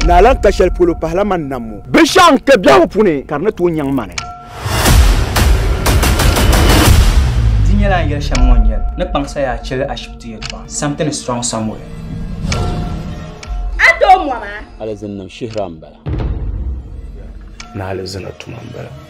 Naa lan ka shɛli polo pahila man nam ŋɔ. Binshɛɣu n kpe biɛhigu puuni ka di ni tooi nyaŋ mani. Di nyɛla n yɛli shɛm ŋɔ n-nyɛ li, ni kpaŋsa yaa chili ashibiti yɛltɔɣa. Something is wrong somewhere. A tooi mɔm a? Alizin niŋ shihira m-bala. Ni alizina tuma m-bala.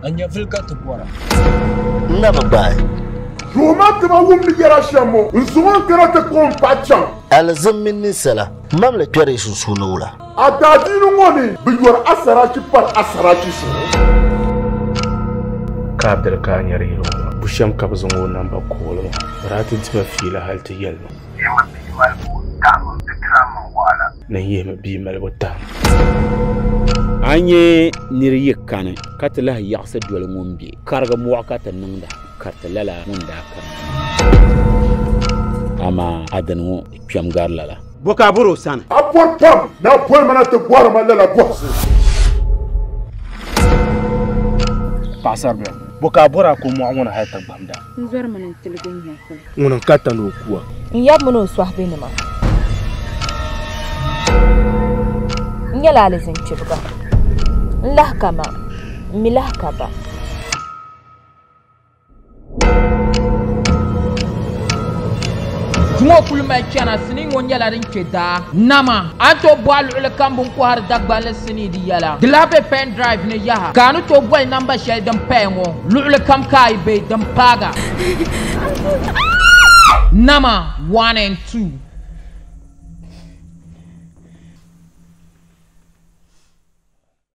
A nyɛvili ka ti bɔra. N na bi gbaai. Duhi ma ti ma wumdi yɛla shɛm ŋɔ. N zuŋ o n-kana ti kpuɣi m paɣa chaŋ. Alizin mini ninsala mam li kpɛri yi sunsuuni wula? A daadiini ŋɔ ni bi yɔri a saraachi pari a saraachi zuɣu. Ka a diri ka a nyari yili ŋɔ maa? Bushɛm ka bi zaŋ o namba kooli ma? Di daa ti dima fiila hali ti yɛli ma. Yi mi bi yi mali buɣim tahim m pitira mini wahala. ni n yihimi bia malibu tahim. A ni nya nir yi kani ka ti lahi yaɣisi doli ŋun be Kariga mɔɣu ka ti niŋda kariti lala ŋun daa kani maa. Amaa a dini ŋɔ di kpɛm gari lala. Bɔ ka a bɔri o sani? A bɔri pam ni a boli ma na ti bɔri ma lala bɔhisi. Paɣisaribil, bɔ ka a bɔri a ko mɔɣu ŋɔ ni hal ti gbamda? N zɔri mini n tiligi n nya kuli. Ŋuni n ka tani o kuwa. N yab mini o sɔhibenima. N nyɛla alizin kpibiga. N lahi ka ma, m mi lahi ka ba. Duma kuli mali chana sini ŋɔ nyɛla din kpe daa. Nama a ni tooi bɔhi luɣilikam bini kɔhiri Dagbanli. ni di yɛla. Di lahi be pen drive ni yaha ka a ni tooi boli namba shɛli din paya ŋɔ luɣili kam ka a yi be din paaga nama one and two.